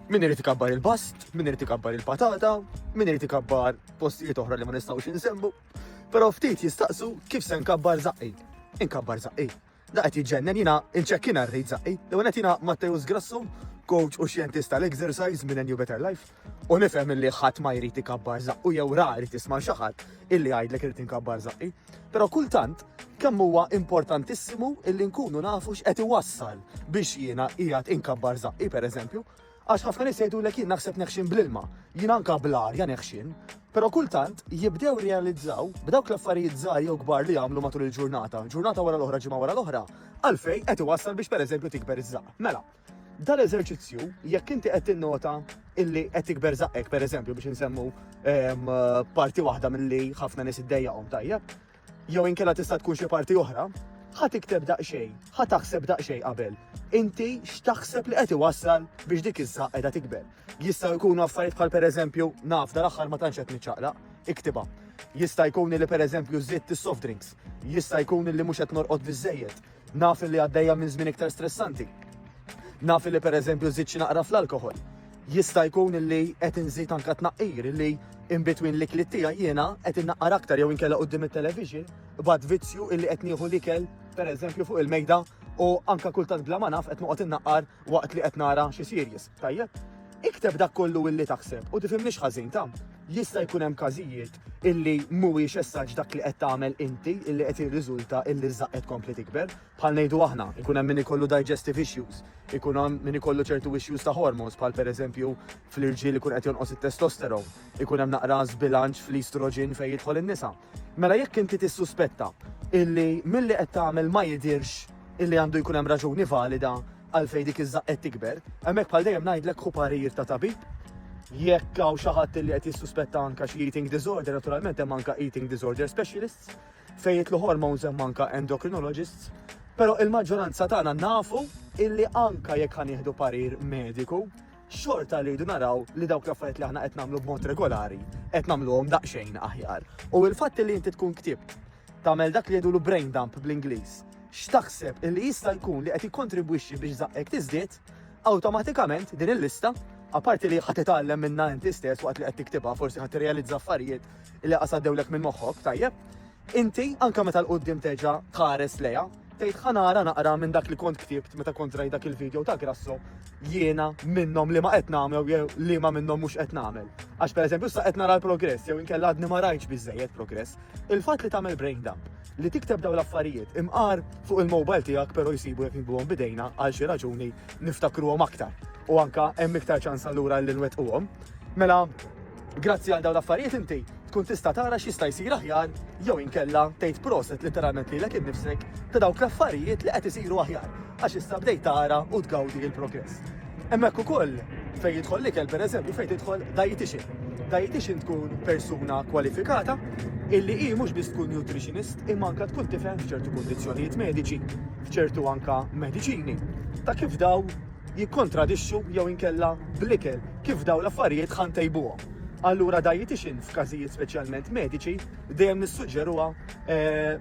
Min irid ikabbar il-bast, min irid ikabbar il-patata, min irid ikabbar postijiet oħra li ma nistgħux insemmu. Però ftit jistaqsu kif se nkabbar zaqqi. Inkabbar zaqqi. Da qed jiġġennen jiena il-ċekkina rrid zaqqi. Li għanet jiena Matteus Grassu, coach u xjentist tal-exercise minn New Better Life, u nifhem li ħadd ma jrid ikabbar zaqqu jew ra jrid jisma' xi ħadd illi jgħidlek irid inkabbar żaqqi, però kultant kemm huwa importantissimu illi nkunu nafu x'qed iwassal biex jiena qiegħed inkabbar żaqqi pereżempju, għax ħafna nies jgħidulek jien naħseb neħxin bl-ilma, jien anka bl-arja neħxin, però kultant jibdew realizzaw b'dawk l-affarijiet żgħar jew kbar li jagħmlu matul il-ġurnata, ġurnata wara l-oħra ġimgħa wara l-oħra, għalfej qed iwassal biex pereżempju tikber iż-żaqq. Mela, Dan l-eżerċizzju, jekk inti qed tinnota illi qed tikber zaqqek, per eżempju, biex insemmu ehm, parti waħda mill-li ħafna nis id-dejjaqom tajjeb, jew inkella tista' tkun xi parti oħra, ħa tikteb daqsxejn, ħa taħseb daqsxejn qabel. Inti x'taħseb li qed iwassal biex dik iż-żaq qiegħda tikber. Jista' jkunu affarijiet bħal pereżempju naf dal-aħħar ma tantx qed niċċaqlaq, iktiba. Jista' jkun li pereżempju żitt is-soft drinks, jista' jkun li mhux qed norqod biżejjed, Naf illi għaddejja minn żmien iktar stressanti. Naf illi pereżempju żidt xi naqra fl-alkoħol. Jista' jkun illi qed inżid anke tnaqqir illi in between l-ikliet tiegħi jiena qed innaqqar aktar jew inkella quddiem it-television b'għad vizzju illi qed nieħu l-ikel pereżempju fuq il-mejda u anke kultant bla ma naf qed noqgħod innaqqar waqt li qed nara xi series. Tajjeb? Ikteb dak kollu illi taħseb u tifhimniex ħażin ta' jista' jkun hemm każijiet illi mhuwiex essaġġ dak li qed tagħmel inti illi qed jirriżulta illi żaq qed kompli tikber. Bħal ngħidu aħna, ikun hemm min ikollu digestive issues, ikun hemm min ikollu ċertu issues ta' hormones bħal pereżempju fl-irġiel ikun qed jonqos it-testosteron, ikun hemm naqra żbilanċ fl-estrogen fejn jidħol in-nisa. Mela jekk inti tissuspetta illi milli qed tagħmel ma jidirx illi għandu jkun hemm raġuni valida Għalfejn dik iż-żaqq qed tikber? Hemmhekk bħal dejjem ngħidlek ħu parir ta' tabib. Jekk hawn xi ħadd li qed jissuspetta anke xi eating disorder, naturalment hemm anke eating disorder specialists fejn jitlu hormones hemm anke endocrinologists. Però il-maġġoranza tagħna nafu illi anke jekk ħanieħdu parir mediku, xorta li jdu naraw li dawk l-affarijiet li aħna qed nagħmlu b'mod regolari qed nagħmluhom daqsxejn aħjar. U l-fatt li inti tkun ktibt Tagħmel dak li jgħidulu brain dump bl-Ingliż. X'taħseb illi jista' jkun li qed jikkontribwixxi biex żaqqek tiżdied, awtomatikament din il-lista, apparti li ħa titgħallem minnha inti stess waqt li qed tiktibha, forsi ħa tirrealizza affarijiet li qas għaddewlek minn moħħok, tajjeb? Inti anke meta l-quddiem terġa' tħares lejha, Tgħid ħa nara naqra minn dak li kont ktibt meta kont rajt dak il-video ta' Grasso jiena minnhom li ma qed nagħmel jew li ma minnhom mhux qed nagħmel. Għax pereżempju issa qed nara l-progress jew inkella għadni ma rajtx biżejjed progress. Il-fatt li tagħmel brain dump li tikteb dawn l-affarijiet imqar fuq il-mobile tiegħek però jsibu jekk nibgħuhom bidejna għal xi raġuni niftakruhom aktar. U anka hemm iktar ċans allura li nwettquhom. Mela, grazzi għal dawn l-affarijiet inti tkun tista' tara x'jista' jsir aħjar jew inkella tgħid proset literalment lilek innifsek ta' dawk l-affarijiet li qed isiru aħjar għax issa bdejt tara u tgawdi il-progress. Hemmhekk ukoll fejn jidħol l-ikel pereżempju fejn tidħol dietitian. Dietitian tkun persuna kwalifikata illi hi mhux biss tkun nutritionist imma anke tkun tifhem f'ċertu kundizzjonijiet mediċi, f'ċertu anke mediċini ta' kif daw jikkontradixxu jew inkella bl-ikel, kif dawn l-affarijiet ħa ntejbuhom. Allura dietician f'każijiet speċjalment mediċi dejjem nissuġġeruha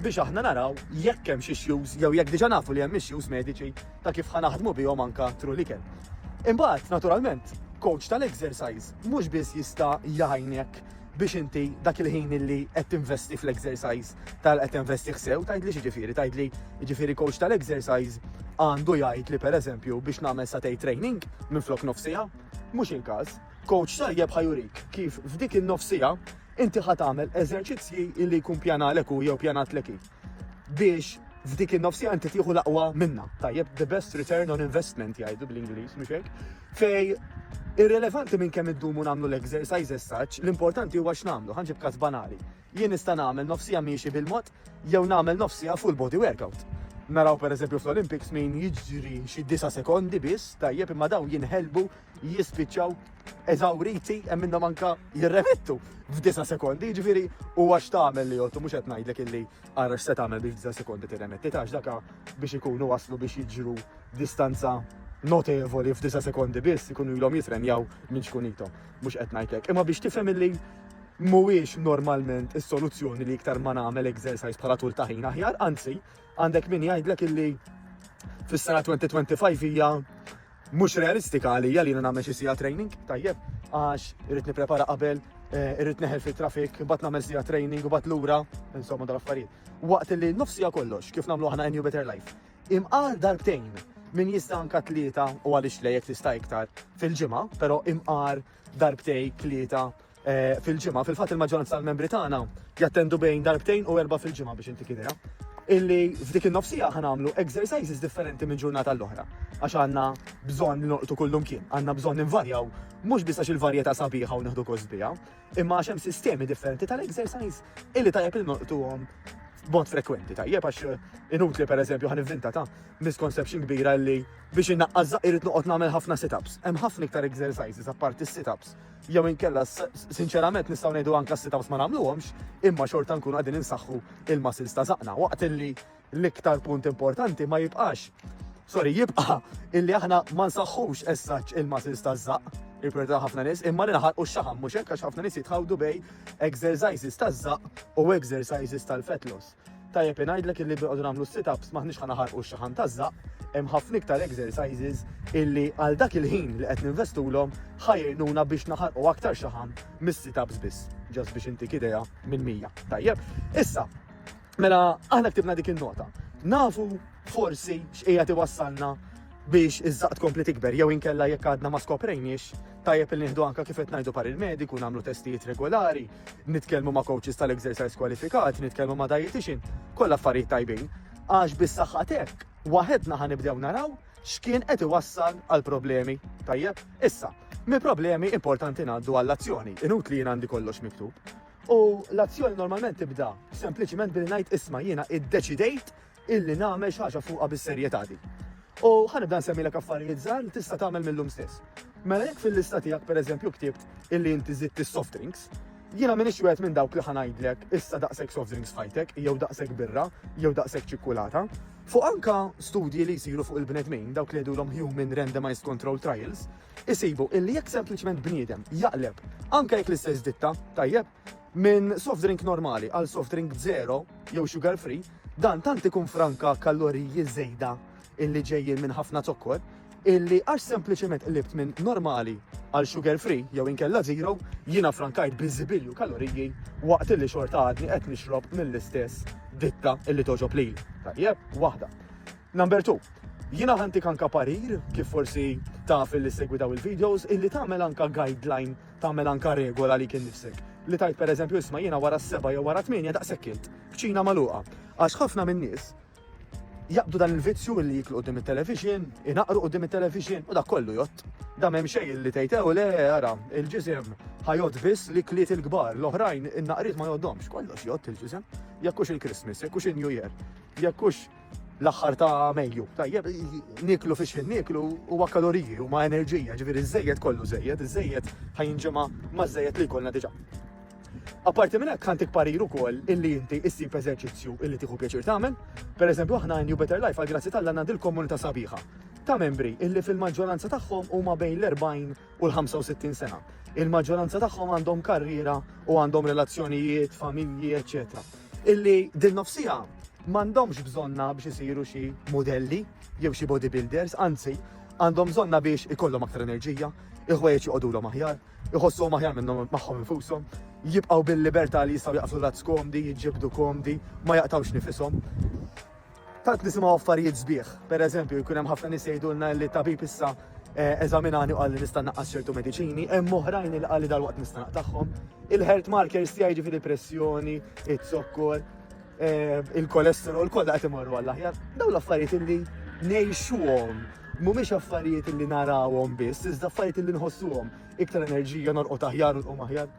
biex aħna naraw jekk hemmx issues jew jekk diġà nafu li hemm issues mediċi ta' kif ħa naħdmu bihom anke through l-ikel. Imbagħad, naturalment, coach tal-exercise mhux biss jista' jgħinek biex inti dak il-ħin illi qed tinvesti fl-exercise tal qed tinvesti ħsew tgħidli xi ġifieri tgħidli ġifieri coach tal-exercise għandu jgħid li pereżempju biex nagħmel satej training minn flok nofsija mhux il-każ coach tajjeb ħajurik kif f'dik in-nofsija inti ħatamel eżerċizzji illi jkun pjanalek u jew pjanat leki. biex f'dik in-nofsija inti tieħu l-aqwa minna. Tajjeb, the best return on investment jgħidu bl-Ingliż, mhux hekk? Fej irrelevanti minn kemm iddumu nagħmlu l-exercises saċ, l-importanti huwa x'nagħmlu, ħanġib każ banali. Jien nista' nagħmel nofsija miexi bil-mod jew nagħmel nofsija full body workout. Naraw per eżempju fl-Olympics min jiġri xi disa sekondi biss, tajjeb imma daw jinħelbu jispiċċaw eżawriti hemm minnhom anka jirremettu f'disa sekondi, ġifieri huwa x'tagħmel li jottu mhux qed ngħidlek illi ara x'se tagħmel biex f'disa sekondi tirremetti tax daka biex ikunu waslu biex jiġru distanza notevoli f'disa sekondi biss ikunu ilhom jitrenjaw minn xkunitom. Mhux qed ngħidlek. Imma biex tifhem illi mhuwiex normalment is-soluzzjoni li iktar ma nagħmel exercise bħala tul ta' ħin aħjar, anzi, għandek min jgħidlek illi fis-sena 2025 hija Mhux realistika għalija li jiena nagħmel xi siegħa training, tajjeb, għax irrid nipprepara qabel, eh, irrid neħel fit-traffic, bat nagħmel siegħa training u bat lura, insomma dal-affarijiet. Waqt li nofsija kollox kif nagħmlu aħna New Better Life. Imqar darbtejn min jista' anka tlieta u għaliex lejek tista' iktar fil-ġimgħa, però imqar darbtej tlieta fil-ġimgħa. Fil-fatt il-maġġoranza tal-membri tagħna jattendu bejn darbtejn u erba' fil-ġimgħa biex intik idea. Illi f'dik in-nofsija ħa nagħmlu exercises differenti minn ġurnata l-oħra. Għax għandna bżonn li norqtu kullum kien, għandna bżonn invarjaw mhux biss għax il-varjetà sabiħa u nieħdu gost biha, imma għax hemm sistemi differenti tal-exercise illi tajjeb li norqtuhom b'mod frekwenti tajjeb għax eh, inutli per eżempju ħan inventa ta' misconception kbira li biex innaqqażżaq irid noqgħod nagħmel ħafna sit-ups. Hemm ħafna iktar exercises apparti sit-ups jew inkella sinċerament nistgħu ngħidu anke s-sit-ups ma nagħmluhomx, imma xorta nkunu qegħdin insaħħu il-muscles ta' zaqna waqt li l-iktar punt importanti ma jibqax. Sorry, jibqa' illi aħna ma nsaħħux essaċ il-muscles ta' zaq, il-priorità ħafna nies, imma li naħarqu x-xaħam mhux hekk għax ħafna nies jitħawdu bej exercises ta' zaq u exercises tal-fat loss. Tajjeb ngħidlek illi biqgħodu nagħmlu sit-ups maħniex ħa naħarqu x-xaħam taż-żaq, hemm ħafna iktar exercises illi għal dak il-ħin li qed ninvestulhom ħajrnuna biex naħarqu aktar xaħam mis-sit-ups biss, ġas biex intik idea minn mija. Tajjeb, issa, mela aħna ktibna dik il-nota. Nafu forsi x'qija tiwassalna biex iż-żaq tkompli tikber jew inkella jekk għadna ma skoprejniex tajjeb il nieħdu anka kif qed ngħidu par il-mediku nagħmlu testijiet regolari Nitkellmu ma' coaches tal-exercise kwalifikati, nitkellmu ma' dietitian, kollha affarijiet tajbin. Għax bis-saħħa tek, waħedna ħa nibdew naraw x'kien qed iwassal għal problemi. Tajjeb, issa, mi problemi importanti ngħaddu għall-azzjoni, inut li jien għandi kollox miktub. U l-azzjoni normalment tibda sempliċiment billi ngħid isma' jiena iddeċidejt illi nagħmel xi ħaġa fuqha bis-serjetà din. U ħanibda nsemmilek affarijiet żgħar li tista' tagħmel mill-lum stess. Mela jekk fil-lista tiegħek pereżempju ktibt illi inti żidt is-soft drinks, jiena minix wieħed minn dawk li ħanajdlek issa daqshekk soft drinks fajtek, jew daqshekk birra, jew daqshekk ċikkulata. Fuq anka studji li jsiru fuq il-bnedmin, dawk li jgħidulhom human randomized control trials, isibu illi jekk sempliċement bniedem jaqleb anke jekk l-istess ditta, tajjeb, Minn soft drink normali għal soft drink zero jew sugar free, dan tant ikun franka kaloriji żejda illi ġejjin minn ħafna zokkor, illi għax sempliċement qlibt minn normali għal sugar free jew inkella zero, jiena frankajt biżibilju kaloriji waqt illi xorta għadni qed nixrob mill-istess ditta illi toġob li. Tajjeb, waħda. Number 2. Jina ħanti kanka parir, kif forsi taf li segwi daw il-videos, illi tagħmel anka guideline tagħmel anka regola għalik innifsek, li tgħid pereżempju isma' jiena wara s-seba' jew wara tmienja daqshekk kilt, kċina magħluqa. Għax ħafna min-nies jaqbdu dan il-vizzju li jiklu qudiem it-television, inaqru qudiem it-television u dak kollu jott. Da m'hemm xejn li tgħid ew le ara, il-ġisem ħajot biss li kliet il-kbar, l-oħrajn in-naqriet ma joddomx, kollox jott il-ġisem. Jekkux il-Christmas, jekkux il-New Year, jekkux l-aħħar ta' Mejju. Tajjeb, niklu fiex fin niklu huwa kaloriji u ma' enerġija, ġifieri żejjed kollu żejjed, iż-żejjed ħajinġema ma' żejjed li jkollna diġà. Apparti minn hekk ħantik parir ukoll illi inti issib eżerċizzju illi tieħu pjaċir tagħmel. Pereżempju aħna New Better Life għal grazzi tal-għandna dil-komunità sabiħa ta' membri illi fil-maġġoranza tagħhom huma bejn l-40 u l-65 sena. Il-maġġoranza tagħhom għandhom karriera u għandhom relazzjonijiet, familji, eċetera. Illi din nofsija m'għandhomx bżonna biex isiru xi modelli jew xi bodybuilders, anzi għandhom bżonna biex ikollhom aktar enerġija, il-ħwejjeġ joqogħdulhom aħjar, iħossuhom aħjar minnhom magħhom infushom, jibqgħu bil-libertà li jistgħu jaqfu rat skomdi, jiġġibdu komdi, ma jaqtawx nifishom. Tant nisimgħu affarijiet sbieħ. Per eżempju, jkun hemm ħafna nies jgħidulna li tabib issa eh, eżaminani u qalli nista' naqqas ċertu mediċini, hemm oħrajn li qalli dal-waqt nista' naqtagħhom. Il-health markers tiegħi ġifieri pressjoni, it-zokkor, eh, il-kolesterol kollha qed imorru għall aħjar. Dawn l-affarijiet li ngħixuhom mhumiex affarijiet li narawhom biss, iżda affarijiet li nħossuhom iktar enerġija norqod aħjar u nqum aħjar.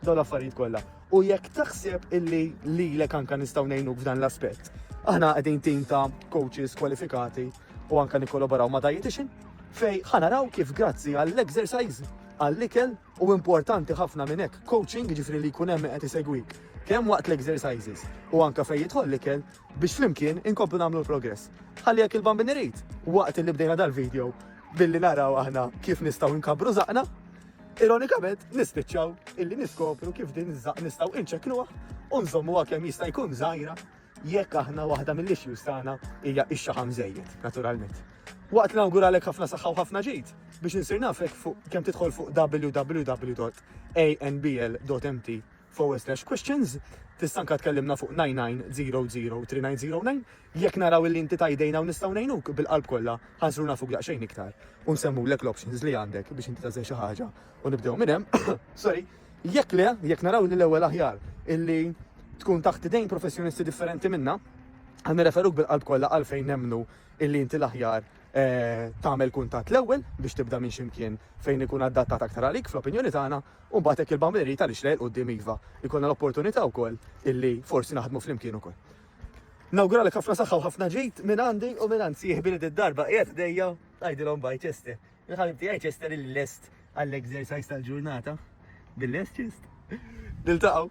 Dawn l-affarijiet kollha. U jekk taħseb illi lilek anka nistgħu ngħinuk f'dan l-aspett, aħna qegħdin tim ta' coaches kwalifikati u anka nikkolaboraw ma' dietitian fej ħanaraw kif grazzi għall-exercise, għall-ikel u importanti ħafna minn hekk coaching ġifri li jkun hemm qed isegwik kemm waqt l-exercises u anka fejn jidħol l-ikel biex flimkien inkomplu nagħmlu l-progress. Ħalli jekk il-bambin irid, waqt li bdejna dal-video billi naraw aħna kif nistgħu nkabru zaqna, Ironikament, nispiċċaw illi niskopru kif din iż-żaq nistgħu inċekluha u nżommuha kemm jista' jkun żgħira jekk aħna waħda mill-issues tagħna hija x-xaħam żejjed, naturalment. Waqt nawguralek ħafna saħħa u ħafna ġid biex insir nafek fuq kemm tidħol fuq www.anbl.mt forward-slash-questions, tista' anke tkellimna fuq 99003909, jekk naraw illi inti ta' idejna u nistgħu ngħinuk, bil-qalb kollha, ħa nsru nafuk daqsxejn iktar u nsemmulek l-options li għandek biex inti tagħżel xi ħaġa u nibdew minn hemm, sorry, jekk le, jekk naraw li l-ewwel aħjar illi tkun taħt idejn professjonisti differenti minna, ħa nirreferuk bil-qalb kollha għal fejn nemmnu illi inti l-aħjar tagħmel kuntatt l-ewwel biex tibda minn xi mkien fejn ikun adattat aktar għalik fl-opinjoni tagħna U mbagħad hekk il-bamba jrid għaliex le 'l quddiem iva, jkollna l-opportunità wkoll illi forsi naħdmu flimkien ukoll. Nawguralek ħafna saħħa u ħafna ġid minn għandi u minn għand sieħbi li did-darba qiegħed ħdejja tgħidilhom bye Chester. Il-ħabib tiegħi Chester il-lest għall-exercise tal-ġurnata. Bil-lest Chest. Niltaqgħu.